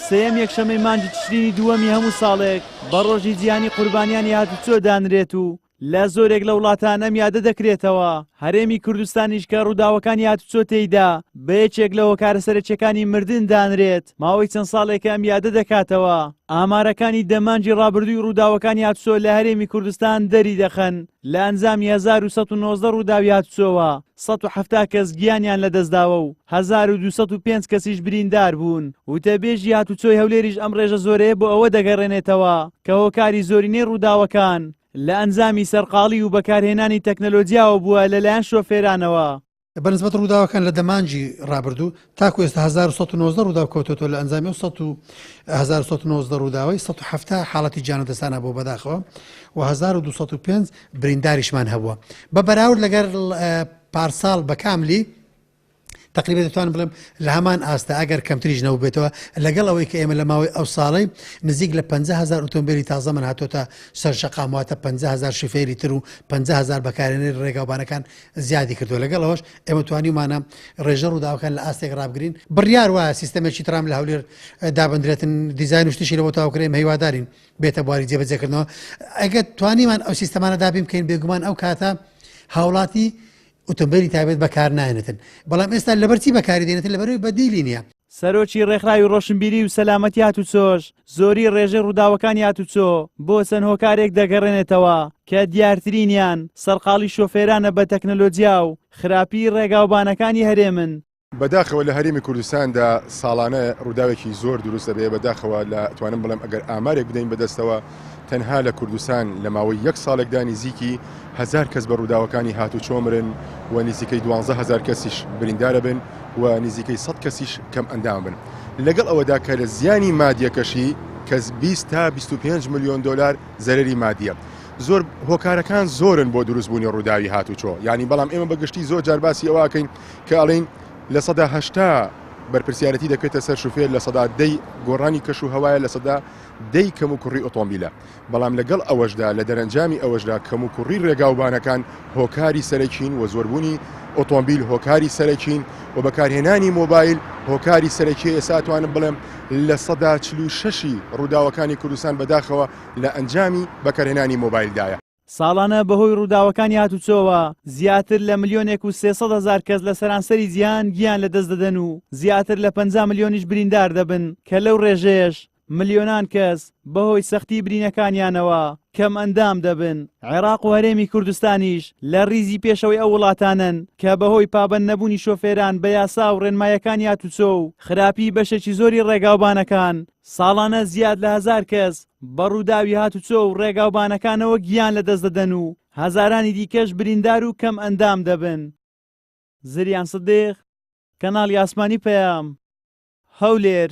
سێیەم یەکشەمەی مانگی تشرینی دووەمی هەموو ساڵێک بە ڕۆژی جیهانی قوربانیانی هاتوچۆ دانرێت و لە زۆرێک لە وڵاتان ئەم یادە دەکرێتەوە هەرێمی کوردستانیش کە ڕووداوەکانی هاتوچۆ تێیدا بە یەکێک لە هۆکارە سەرەکیەکانی مردن دانرێت ماوەی چەند ساڵێکە ئەم یادە دەکاتەوە ئامارەکانی دەمانجی ڕابردووی ڕووداوەکانی هاتوچۆ لە هەرێمی کوردستان دەری دەخەن لە ئەنجامی 1990 ڕووداوی هاتوچۆوە سەد و حەفتا کەس گیانیان لەدەستداوە و هەزار و دوو سەد و پێنج کەسیش بریندار بوون. وتەبێژی هاتوچۆی هەولێریش ئەم ڕێژە زۆرەیە بۆ ئەوە دەگەڕێنێتەوە کە هۆکاری زۆرینەی ڕووداوەکان لە ئەنجامی سەرقاڵی و بەکارهێنانی تەکنەلۆجیاوە بووە لەلایەن شۆفێرانەوە. بەنسبەت ڕووداوەکان لە دەمانجی ڕابردوو، تاکو ئێستا هەزار و سەد و نۆزدە ڕووداو کەوتۆتەوە لە ئەنجامی ئەو سەد و هەزار و سەد و نۆزدە ڕووداوەی سەد و حەفتا حاڵەتی گیانە دەستان هەبووە بەداخەوە و هەزار و دوو سەد و پێنج برینداریشمان هەبووە بە بەراورد لەگەر پارساڵ بە کاملی تقریبا دەتوانم بڵێم لە هەمان ئاستا ئەگەر کەمتریش نەوبێتەوە لەگەڵ ئەوەی کە ئێمە لە ماوەی ئەو ساڵی نزیک لە 500هزار ئۆتۆمبیلی تازە من هاتۆتە سەر شقامواتە 500هزار شفێری تر و 500هزار بەکارێنەر ڕێگاوبانەکان زیادی کردو لەگەڵ ئەوش ئێمە توانیومانە ڕێژە ڕووداوەکان لە ئاستێک ڕابگرین بڕیار وایە سیستەمێکی ترام لە هەولێر دابدرێتن دیزین شتشی لەەوە تاوکرێن هیوادارین بێتە بواری جێبەجێکردنەوە ئەگە توانیمان ئەو سیستەمانە دابین بکەین بێگومان ئەو کاتە هاوڵاتی ئۆتۆمبیلی تابێت بەکار نایەنێتن بەڵام ئێستا لەبەرچی بەکاری دێنێتن لەبەروی بەدیلی نیە سەرۆکی ڕێکخراوی ڕۆشنبیری و سەلامەتی هاتوچۆش زۆری ڕێژەی ڕووداوەکانی هاتوچۆ بۆ چەند هۆکارێک دەگەڕێنێتەوە کە دیارترینیان سەرقاڵی شۆفێرانە بە تەکنەلۆجیا و خراپی ڕێگاوبانەکانی هەرێمن. بەداخەوە لە هەرێمی کوردستاندا ساڵانە ڕووداوێکی زۆر دروست دەبێت، بەداخەوە لە توانم بڵێم ئەگەر ئامارێک بدەین بەدەستەوە، تەنها لە کوردستان لە ماوەی یەک ساڵێکدا نیزیکی هەزار کەس بە ڕووداوەکانی هاتووچۆ مرن و نیزیکەی دوانزە هەزار کەسیش بریندارەبن و نیزیکەی سەد کەسیش کەم ئەندام بن لەگەڵ ئەوەدا کە لە زیانی مادیەکەشی کەس 20 تا 25 ملیۆن دۆلار زەرری مادیە زۆر هۆکارەکان زۆرن بۆ دروستبوونی ڕووداوی هاتووچۆ یعنی بەڵام ئێمە بەگشتی زۆر جارباسی ئەوواکەین کە ئەڵین لە سەدا هەشتا بەرپرسیارەتی دەکرێتە سەر شوفێر لە سەدا دەی گۆڕانی کەش و هەوایە لە سەدا دەی کەموکوڕی ئۆتۆمبیلە، بەڵام لەگەڵ ئەوەشدا لە دەرەنجامی ئەوەشدا کەموکوڕی ڕێگاوبانەکان هۆکاری سەرەکین و زۆربوونی ئۆتۆمبیل هۆکاری سەرەکین و بەکارهێنانی مۆبایل هۆکاری سەرەکیە ئێستا ئەتوانم بڵێم لە سەدا چل و شەشی ڕووداوەکانی کوردستان بەداخەوە لە ئەنجامی بەکارهێنانی مۆبایلدایە. ساڵانە بەهۆی ڕووداوەکانی هاتوچۆوە زیاتر لە ملیۆنێک و سێ سەد هەزار کەس لە سەرانسەری جیهان گیان لە دەست دەدەن و زیاتر لە پەنجا ملیۆنیش بریندار دەبن کە لەو ڕێژەیەش ملیۆنان کەس بەهۆی سەختی برینەکانیانەوە کەم ئەندام دەبن عێراق و هەرێمی کوردستانیش لە ریزی پێشەوەی ئەو وڵاتانن کە بەهۆی پابەند نەبوونی شۆفێران بە یاسا و ڕێنمایەکانی هاتوچۆ و خراپی بەشێکی زۆری ڕێگاوبانەکان ساڵانە زیاد لە هەزار کەس بە ڕووداوی هاتوچۆ و ڕێگاوبانەکانەوە گیان لەدەست دەدەن و هەزارانی دیکەش بریندار و کەمئەندام دەبن. زریان سدیق، کەناڵی ئاسمانی پەیام، هەولێر.